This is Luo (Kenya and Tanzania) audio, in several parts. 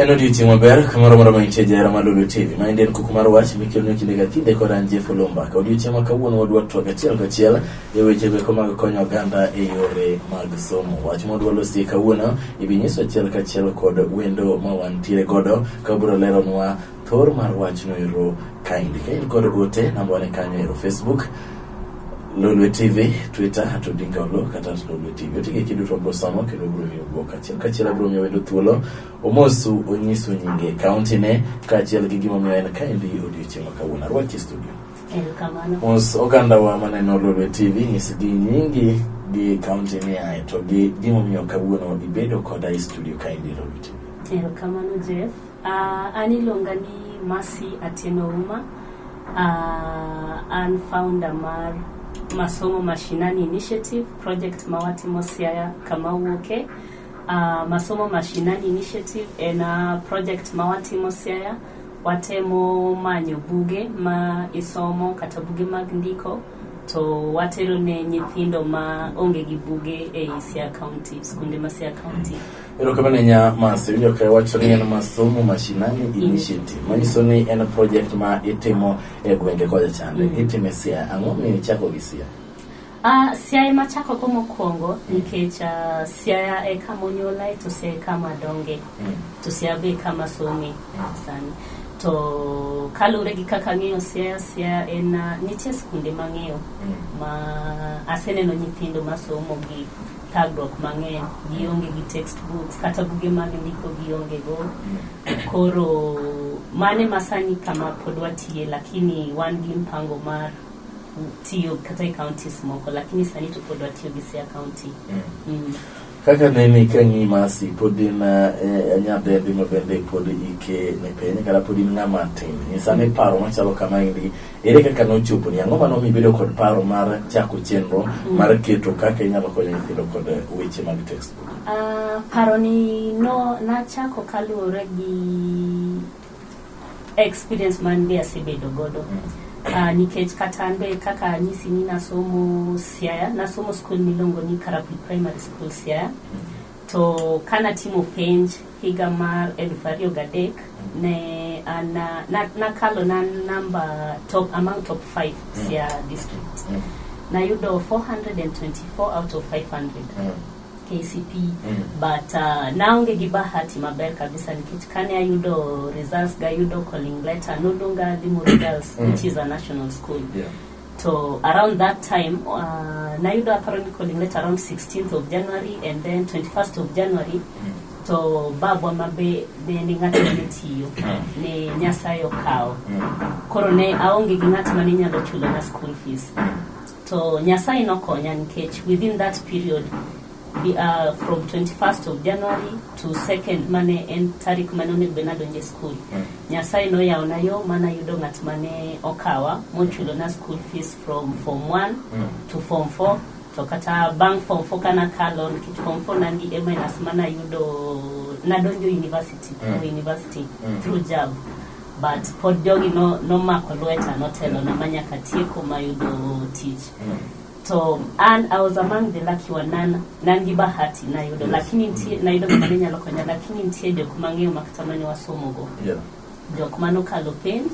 En odiechieng' maber kamoro moro mantie jahera mar Lulu TV. Ma en kuku mar wach mikelnu kinde ka kinde kod an Jeff Olomba. Ka odiechieng' ma kawuono wadwa twak achiel kachiel e weche meko mag konyo oganda e yore mag somo. Wach ma wadwa losie kawuono ibi nyiso achiel kachiel kod wendo ma wantiere godo ka obiro leronwa Thor mar wachno ero kaindi. Ka in kod ote, namba wane kanyo ero Facebook, Lolwe TV, Twitter, at Odinga Olo, kata at Lolwe TV. Otige kiduto wabro somo kendo wabro miyo bwok. Achiel kachiel abro miyo wendo thuolo, omosu, onyisu nyinge, kaunti ne, kaachiel gi gimomiyo en kaindi odiochieng' ma kawuono. Arwaki e studio. Erokamano. Mos oganda wa maneno Lolwe TV, nyisgi nyingi gi kaunti ni ae, to gi gimomiyo kawuono ibedo koda e studio kaindi Lolwe TV. Erokamano Jeff. Uh, an iluonga ni Mercy Atieno Uma. Uh, an founder mar Masomo Mashinani Initiative project ma watimo Siaya kama wuoke. Uh, Masomo Mashinani Initiative en uh, project ma watimo Siaya. Watemo manyo buge ma isomo kata buge mag ndiko to watero ne nyithindo ma onge gi buge e i Siaya County, skunde ma Siaya County. Erokamano ahinya Mas, iwinjo ka wacho ni en masomo mashinani initiative, manyiso ni en project ma itimo e gwenge kocha chande. Mm. Itimo e Siaya, ang'o miyo ichako gi Siaya? Uh, Siaya ema achako go mokwongo nikech uh, Siaya e kama onyuolae to Siaya e kama adonge Mm. to Siaya be e kama asome sani. To kaluwore gi kaka ang'eyo Siaya, Siaya en ah, nitie skunde mang'eyo ma aseneno nyithindo masomo gi thagruok mang'eny, gionge gi textbooks kata buge mag ndiko gionge go. Koro mane masani kama pod watiye lakini wan gi mpango mar tiyo kata e counties moko lakini sani to pod watiyo gi Siaya County. Mm. Kaka nene ka ng'i masi pod in eh, nyadendi ma bende pod ike ni piny kata pod in ng'ama tin nyisa ni paro machalo kama endi ere kaka nochopo ni ang'o mano mibedo kod paro mar chako chenro mar keto kaka inyalo konyo nyithindo kod eh, weche mag textbook Ah, paroni no nachako kaluwore gi experience man be asebedo godo uh, nikech kata an be kaka anyisi ni nasomo siaya nasomo skul miluongo ni karapul primary school siaya to ka natimo penj higa mar eluf ariyo gadek ne an na- na- nakalo na namba top among top 5 siaya district nayudo 424 out of 500 KCP Mm. but uh, naonge gi bahati maber kabisa nikech kane ayudo results gayudo calling letter noluonga Limuru Girls Mm. which is a national school Yeah. to around that time uh, nayudo aparo ni calling letter around 16th of January and then 21st of January Mm. to babwa ma be be ni ng'ato ma ne tiyo Mm. ne Nyasaye okawo Mm. koro ne aonge gi ng'at ma ne nyalo chulona school fees To Nyasaye nokonya nikech within that period be, uh, from 21st of January to 2nd mane en tarik mane onego bed nadonje skul. Nyasaye noyawona yo mana yudo ng'at mane okawa mochulona school fees from form 1 to form 4 to kata bang' form 4 kana kalo nikech form 4 nan gi A minus mana yudo nadonjo university Mm. university Mm. through jab But pod jogi no, nomako lweta notelona ma nyaka tieko mayudo tich to an I was among the lucky one nan nan gi bahati nayudo lakini nitie nayudo gima ne nyalo konya lakini nitie jok mang'eyo ma kata mane wasomogo Yeah. jok mane okalo penj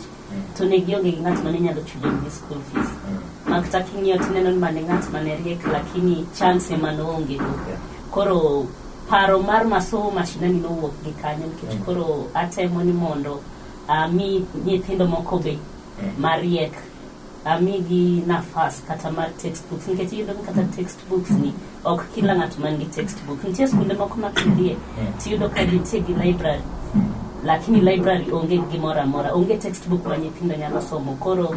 to ne gionge gi ng'at mane nyalo chulo gi school fees ma kata king'iyo tineno ni mane ng'at mane riek lakini chance ema noonge go Yeah. koro paro mar masomo mashinani nowuok gi kanyo nikech mm. koro atemo ni mondo ami nyithindo moko be mm. mariek amigi nafas kata mar textbooks nikech iyudo ni kata textbooks ni ok kila ng'ato man gi textbook nitie skunde moko ma kidhie mm. tiyudo ka nitie gi library lakini library onge gimoro amora onge textbook ma nyithindo nyalo somo koro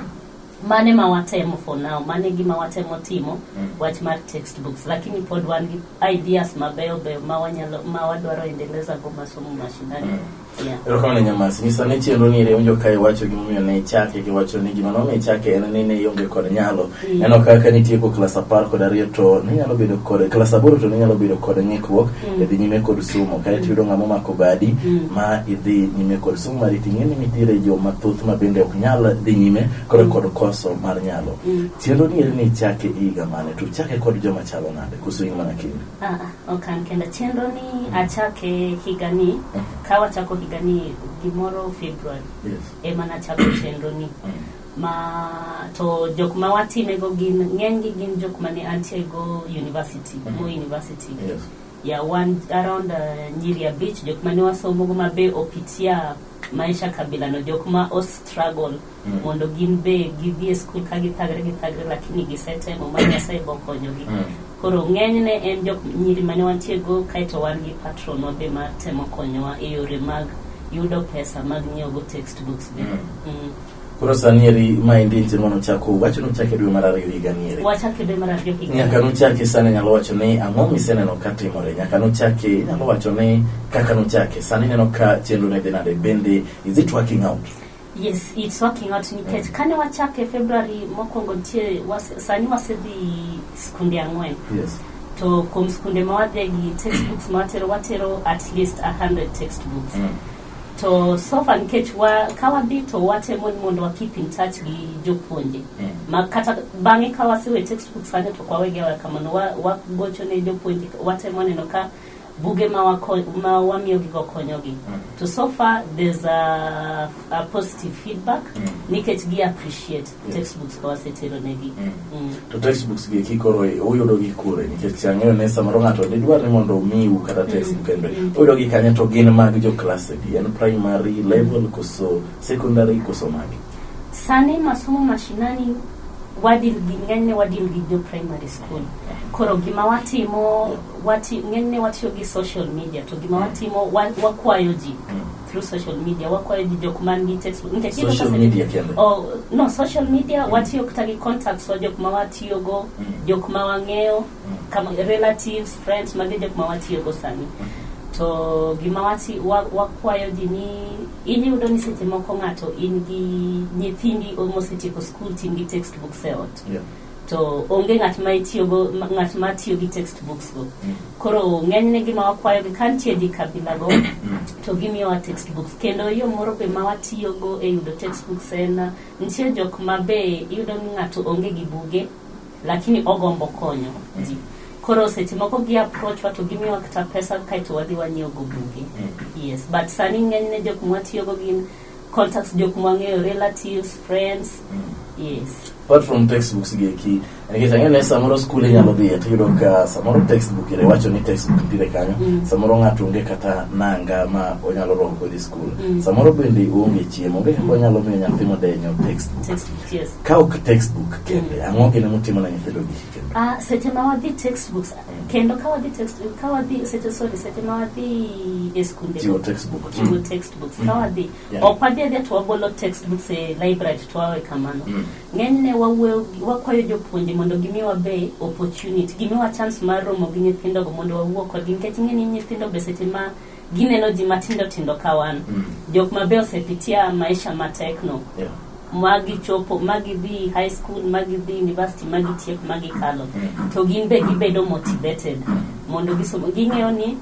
Mano ema watemo for now, mano e gima watemo timo, wach mar textbooks, lakini pod wan gi ideas mabeyo beyo ma wanyalo, ma wadwaro endeleza go masomo mashinani. Yeah. Erokamano ne Nyamasi. Nyisa ne chenro ni iwinjo ka iwacho gimomiyo ne ichake kiwacho ni gima nomiyo ichake en ni ne ionge kod nyalo. Mm. Neno kaka nitieko klas apar kod ariyo to ninyalo bedo kod klas aboro to ninyalo bedo kod ng'ikruok Mm. e dhi nyime kod somo. Kae to iyudo ng'ama omako badi Mm. ma idhi nyime kod Sumari ting'e ni nitiere jo mathoth ma bende ok nyal dhi nyime kod kod koso mar nyalo. Mm. Chenro ni eri ni chake e higa mane to chake kod joma chalo nade koso in mana kindi? Ah, ah, ok an kenda. Chenro ni achake higa ni, Mm. ka wachako higa ni gimoro February Yes. ema nachako chenro ni. Mm. ma to jok ma watimego gin ng'enygi gin jok mane antiego university Mhm. mo university Yes. ya wan around uh, nyiri abich jok mane wasomogo ma be opitia maisha kabila no jok ma o struggle Mm. mondo gin be gidhi e skul ka githagre githagre lakini gisetemo ma nyasaye bokonyogi Mm. koro ng'enyne en jok nyiri mane wantiego kaeto wan gi patron wa be matemo konyowa e yore mag yudo pesa mag nyiewogo textbooks be Mm. Mm. Koro sani eri ma endi en chenro nochako wacho nochake dwe mar ariyo higa ni eri. Wachak e dwe mar ariyo higa. Nyaka nochake sani nyalo wacho ni ang'o miseneno ka timore. Nyaka nochake nyalo wacho ni kaka nochake sani neno ka chenro ne dhi nade bende is it working out? Yes, it's working out nikech kane wachake February mokwongo nitie was, sani wasedhi skunde ang'wen. Yes. To kuom skunde ma wadhigi textbooks ma watero watero at least 100 textbooks. Mm. To so far nikech wa, ka wadhi to watemo ni mondo wa keep in touch gi jopuonje. Mm. Ma kata bang'e ka wasewe textbook sani to kwa wege wa kamano wa, wa gocho ne jopuonje watemo neno ka buge ma wako, ma wamiyo gi gokonyogi. Mm. To so far there's a, a positive feedback Mm. nikech gi appreciate textbooks ka wasetero negi Mm. to textbooks gi eki koro uyudo gi kure nikech ang'eyo ni samoro ng'ato didwar ni mondo omiu kata textbook en be uyudo gi kanye to gin mag jo class adi en primary level koso secondary koso magi sani masomo mashinani wadil gi ng'enyne wadil gi jo primary school koro gima watimo wati, ng'enyne watiyo gi social media to gima watimo wa- wakwayo ji through social media wakwayo ji jok man gi textbook nikech iyudo Social kase- media kende. oh, no social media watiyo kata gi contacts wa jok ma watiyogo Mm. jok ma wang'eyo Mm. kama relatives friends magi jok ma watiyogo sani to gima wati wa- wakwayo ji ni in iyudo ni seche moko ng'ato in gi nyithindi mosetieko skul tin gi textbooks e ot Yeah. to onge ng'at ma itiyogo ma- ng'at ma tiyo gi text books go koro ng'enyne gima wakwayogi ka nitie dhi kabilago to gimiyowa text books kendo yo moro be ma watiyogo e yudo text books en uh, nitie jok ma be iyudo ni ng'ato onge gi buge lakini ogombo konyo ji koro seche moko gi approach wa to gimiyowa kata pesa kaeto wadhi wanyiewogo buge yes but sani ng'enyne jok mwatiyogo gin contacts jok mwang'eyo relatives friends yes apart from textbooks gi eki nikech ang'eyo ni samoro skul inyalo dhiye to iyudo ka samoro textbook ire wacho ni textbook nitiere kanyo Mm. samoro ng'ato onge kata nanga ma onyalo roho kodhi skul Mm. samoro bende oonge chiemo onge kaka onyalo miyo nyathi modenyo textbook textbooks yes ka ok textbook kende ang'o gine mutimo na nyithindo gi kendo Ah, seche ma wadhi textbooks kendo ka wadhi text ka wadhi seche sorry seche ma wadhi e skunde chiwo textbook chiwo text textbooks ka wadhi Yeah. ok wadhi adhiya to wagolo textbooks e library to wawe kamano Mm. ng'enyne wawuoyo gi- wakwayo jopuonje mondo gimiwa be opportunity gimiwa chance mar romo gi nyithindogo mondo wawuo kodgi nikech ing'e ni nyithindo be seche ma gineno ji matindo tindo ka wan Mm. jok mabe osepitia maisha matekno Yeah. ma gichopo ma gidhi high school ma gidhi university ma gitiek ma gikalo to gin be gibedo motivated mondo gisom ging'eyo ni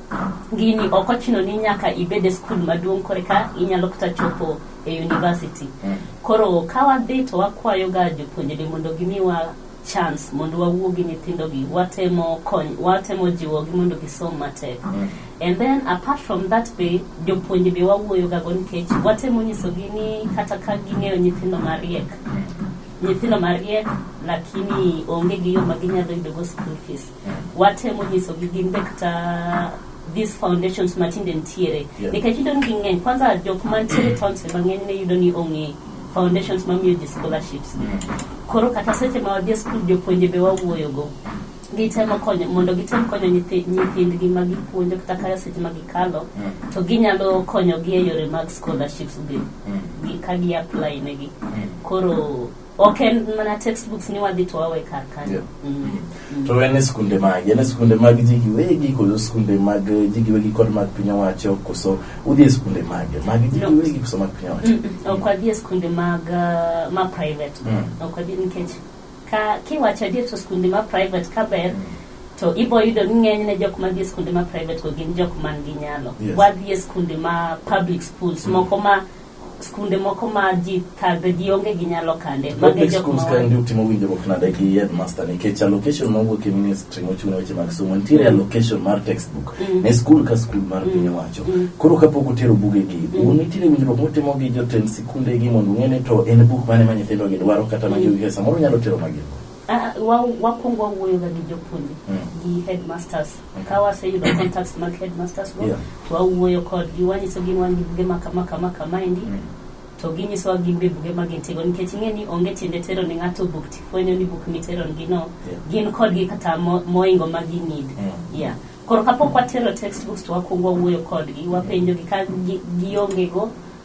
gini ok ochuno ni nyaka ibed e skul maduong' koreka inyalo kata chopo e university koro ka wadhi to wakwayoga jopuonjre mondo gimiwa chance mondo wawuo gi nyithindogi watemo kony watemo jiwogi mondo gisom matek And then apart from that be jopuonj be wawuoyogago nikech watemo nyisogi ni kata ka ging'eyo nyithindo mariek nyithindo mariek lakini onge gi yo ma ginyalo yudogo school fees watemo nyisogi gin be kata these foundations matinde nitiere Yeah. nikech yudo ni ging'eny kwanza jok mantiere towns be mang'eny ne yudo ni ong'e foundations mamiyo ji scholarships koro kata seche ma wadhi e skul jopuonje be wawuoyogo gitemo konyo mondo gitem konyo nyithi- nyithindgi ma gipuonjo kata kare seche ma gikalo Mm. to ginyalo konyogi e yore mag scholarships be Mm. gi- ka gi apply negi Mm. koro ok en mana textbooks ni wadhi to wawe kar kanyo Yeah. Mm. Mm. to en e skunde magi en e skunde mag ji giwegi koso skunde mag eh, ji giwegi kod mag piny owacho koso udhi e skunde mage mag ji No. giwegi koso mag piny owacho Mm, mm. ok wadhi e skunde mag ah, ma private Mm. ok wadhi nikech Ka kiwacho adier to skunde ma private ka ber to ibo yudo ni ng'enyne jok madhi e skunde ma private go gin jok man gi nyalo. Yes. Wadhi e skunde ma public schools moko ma skunde moko ma ji thagre ji onge gi nyalo kande. Mago e Public jok schools ma ka ndio timo winjruok nade gi headmaster nikech allocation ma wuok e ministry mochung' ne weche mag somo nitiere allocation mar textbook ne skul ka skul mar piny owacho. Koro kapok utero bugegi, un nitiere winjruok mutimo gi jotend kunde gi mondo ung'e ni to en buk mane ma nyithindo gi dwaro kata ma giwinjo samoro nyalo tero magi Ah, wa- wakwongo wawuoyoga gi jopuonje Mm. gi headmasters ka waseyudo contacts mag headmasters go Yeah. to wawuoyo kodgi wanyisogi ni wan gi buge ma kama kama kama endi to ginyisowa gin be buge ma gintigo nikech ing'e ni onge tiende tero ni ng'ato buk tifwenyo ni buk miteronigi no Yeah. gin kodgi kata mo- moingo ma ginid Mm. yeah. koro kapok watero textbooks to wakwongo wawuoyo kodgi wapenjogi ka gi- giongego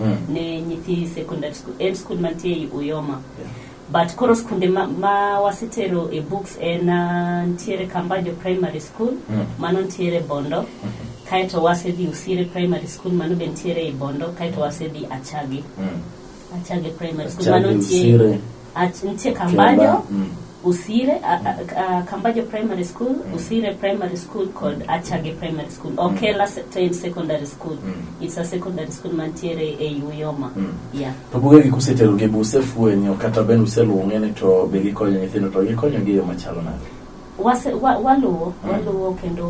Mm. ne nyithi secondary school en skul mantie ei uyoma but koro skunde ma, ma wasetero e books en ah, ntiere kambajo primary school Mm. mano ntiere bondo kaeto wasedhi usire primary school mano be ntiere ei bondo kaeto wasedhi achagi Mm. achage primary school Achagi mano ntie Usire. At- nitie kambajo Kemba, mm. usire a- a- a- kambajo primary school usire primary school kod achage primary school okela se- to en secondary school it's a secondary school mantiere e uyoma yeah to buge gi kuseterogi be usefwenyo kata bende useluong'e ni to be gikonyo nyithindo to gikonyogi e yo machalo nade Wase, wa, waluwo waluwo kendo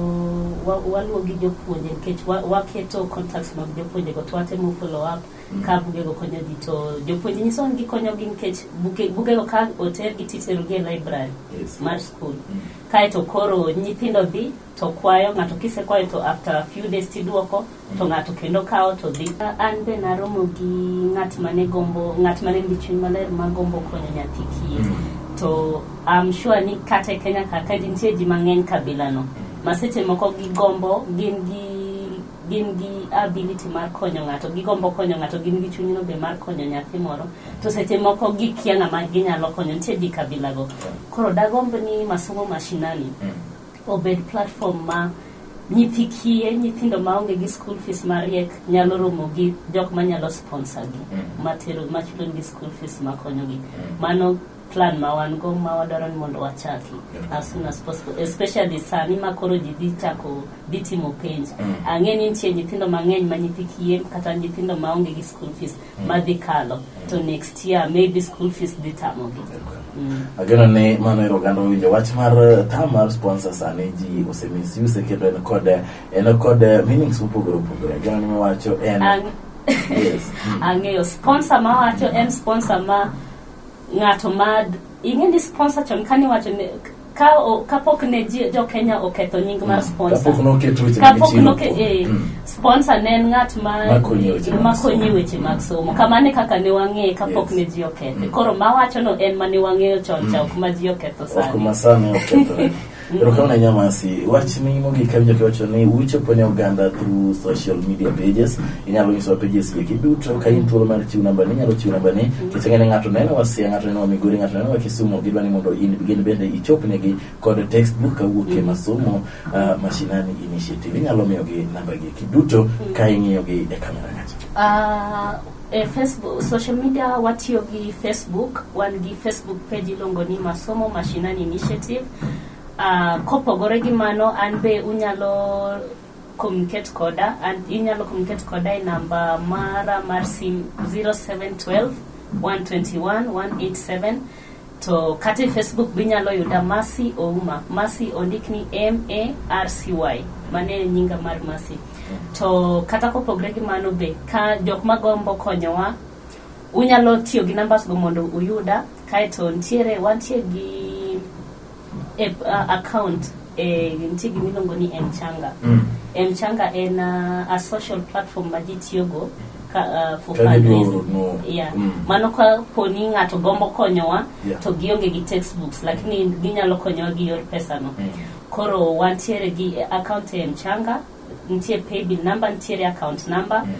wa, waluwo gi jopuonje nikech wa- waketo contacts mag jopuonjego to watemo follow up ka bugego konyo ji to jopuonje nyiso ni gikonyogi nikech buke- bugego ka otergi titerogi e library Yes. mar skul Mm. kaeto koro nyithindo dhi to kwayo ng'ato kisekwayo to after a few days tiduoko to ng'ato kendo kawo to dhi an be naromo gi ng'at mane gombo ng'at mane nigi chuny maler ma gombo konyo nyathi kiye to am sure ni kata e kenya ka ka nitie ji mang'eny kabilano ma seche moko gigombo gin gi gin gi ability mar konyo ng'ato, gigombo konyo ng'ato, gin gi chunyno be mar konyo nyathi moro, to seche moko gikia ng'ama ginyalo konyo, nitie ji kabilago. Koro dagomb ni masomo mashinani obed platform ma nyithi kiye, nyithindo maonge gi school fees mariek nyalo romo gi jok manyalo sponsor gi, matero, machulonegi school fees makonyogi. Mano plan ma wan go ma wadwaro ni mondo wachaki as soon as possible especially sani ma koro ji dhi chako dhi timo penj mm. ang'e ni nitie nyithindo mang'eny ma nyithi kiye kata nyithindo ma onge gi school fees mm. ma dhi kalo mm. to next year maybe school fees dhi tamogi mm. ageno ni mano ero oganda owinjo wach mar eh, tam mar sponsor sani ji osemisuse kendo en kod eh, en kod eh, meanings mopogore opogore ageno ni mawacho en yes. mm. ang'eyo sponsor mawacho en sponsor ma ng'ato mad ing'e ni sponsor chon kane iwacho ne ka o- kapok ne ji- jo Kenya oketho nying mar sponsor kapok noket weche mag kapok chiro. noke eh, Mm. sponsor ne en ng'at ma Makonyi e weche mag makonyi somo. e weche mag somo kamano e kaka ne wang'eye kapok Yes. ne ji okethe Mm. koro mawachono en ma ne wang'eyo chon cha ok ma ji oketho ok sani masani okethore Erokamano ahinya Masi. Wachni mogik awinjo kiwacho ni uchopo ne oganda through social media pages. Inyalo nyisowa pages gi duto ka in thuolo mar chiwo namba ni inyalo chiwo namba ni nikech ang'e ni ng'ato neno wa Siaya, ng'ato neno wa Migori, ng'ato neno wa Kisumu gidwa ni mondo in gin bende ichopnegi kod textbook kawuok e masomo ah, mashinani initiative. Inyalo miyogi namba gi duto ka ing'iyogi e kamera kacha. Ah, E Facebook, social media watiyo gi Facebook, wan gi Facebook page iluongo ni Masomo Mashinani Initiative. Ah, kopogore gi mano an be unyalo communicate koda an inyalo communicate koda e namba mara mar sim 0712 121 187 To kata e Facebook be inyalo yuda Mercy Ouma. Mercy ondik ni M A R C Y. Mano e nyinga mar Mercy. To kata kopogre gi mano be ka jok magombo konyowa unyalo tiyo gi numbers go mondo uyuda kaeto ntiere wantie gi e, uh, account e, nitie gima iluongo ni mchanga Mm. mchanga en uh, a social platform ma ji tiyogo ka, uh, for Ka gidwaro fundraising. no- yeah. mm. mano ka poni ng'ato gombo konyowa Yeah. to gionge gi textbooks lakini ginyalo konyowa gi yor pesano Mm. koro wantiere gi account e mchanga nitie paybill number nitiere account number Mm.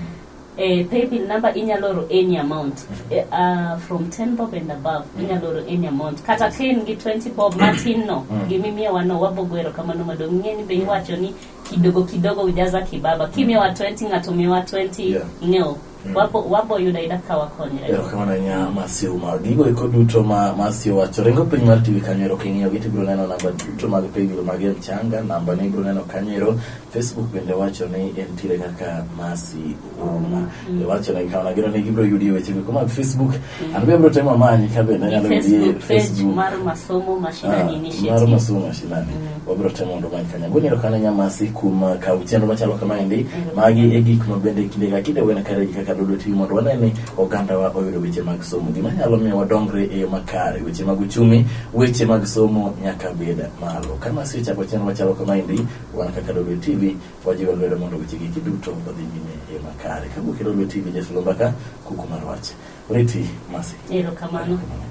Eh, paybill number inyalo oro any amount eh, uh, from 10 bob and above inyalo oro any amount kata ka in gi 20 bob matin no gimimiyowa no wabogo erokamano madong ing'e ni be iwacho ni kidogo kidogo ujaza kibaba kimiyowa 20 ng'ato miyowa 20 Yeah. no wabo wabo yudo ayuda ka wakonyre erokamano ahinya masiw ma gigo eko duto ma masiw wacho ringo piny mar tv kanyo ero king'iyo gi tibiro neno namba duto mag paybill mag mchanga namba ni ibiro neno kanyo ero Facebook bende wacho ni entiere kaka Mercy Ouma. Mm. Iwacho ni kama nagero ni gibiro yudi weche meko mag Facebook. Mm. An be abiro temo amanyi ka bende anyalo yudi e Facebook. Mar masomo mashinani ah, initiative. Mar masomo mashinani. Mm. Wabiro temo mondo many kanya. Gwenye ro kana nyamasi kum uh, ka uchendo machalo kama endi. Mm. Magi e gik ma bende kinde ka kinde wena kare kaka dodo tiyo mondo wane ni oganda wa oyudo weche mag somo. Gima nyalo miyo wadongre e yo makare. Weche mag uchumi, weche mag somo nyaka beda malo. Kama si chako chenro machalo kama endi. Wan kaka Dodwe TV, wajiwo lwedo mondo weche gigi duto odhi nyime e yo makare. Ka wuok e Dodwe TV, Jesu Lumbaka, kuku mar wach. Oriti, Masi. Erokamano. Erokamano.